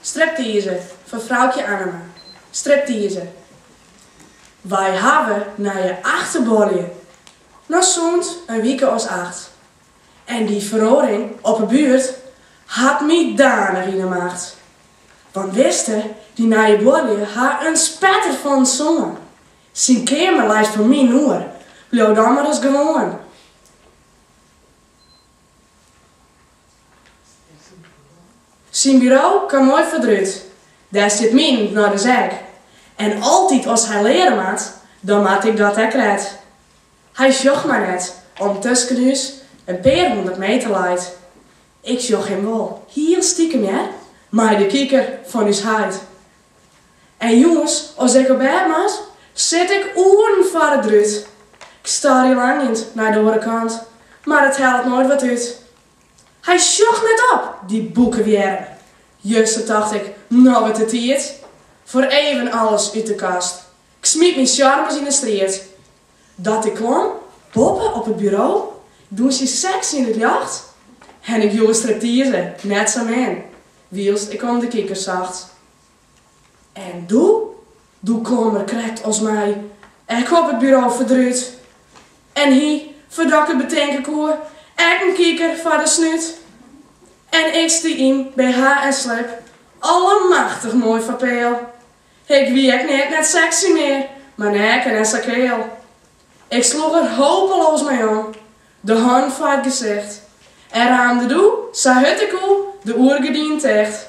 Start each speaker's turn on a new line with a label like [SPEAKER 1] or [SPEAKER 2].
[SPEAKER 1] Striptease fan Froukje Annema Striptease Wy hawwe nije achterbuorlju! No sûnt in wike as acht. En dy feroaring op 'e buert hat my danich yn 'e macht. Want witste, dy nije buorlju ha in spetter fan in soan. Syn keamer leit foar minen oer. Bliuw dan mar ris gewoan. Syn buro kaam moai foar 't rút. Dêr stiet minen dus ek. En altyd as hy leare moat, dan moat ik dat ek krekt. Hy sjocht my net, om't tusken ús in pear hûndert meter leit. Ik sjoch him wol, hiel stikem hear, mei de kiker fan ús heit. En jûns, as ik op bêd moat, sit ik oeren foar it rút. Ik stoarje langjend nei de oare kant, mar it hellet noait wat út. Hy sjocht net op, dy boekewjirm. Juster tocht ik, no wurdt it tiid. Foar even alles út de kast. Ik smyt myn sjarmes yn de striid. Dat ik klom boppe op it buro, dûnsjend seksy yn it ljocht. En ik joech in striptease, net sa min, wylst ik om de kiker socht. En doe? Doe klom er krekt as my ek op it buro foar 't rút. En hie, foardat ik it betinke koe, ek in kiker foar de snút. En ik stie yn bh en slip, allemachtig moai foar peal. Ik wie ek neat net sexy mear, mar neaken en sa keal. Ik sloech der hopeloas mei om, de hannen foar it gesicht, en raamde doe sa hurd ek koe de oergerdinen ticht.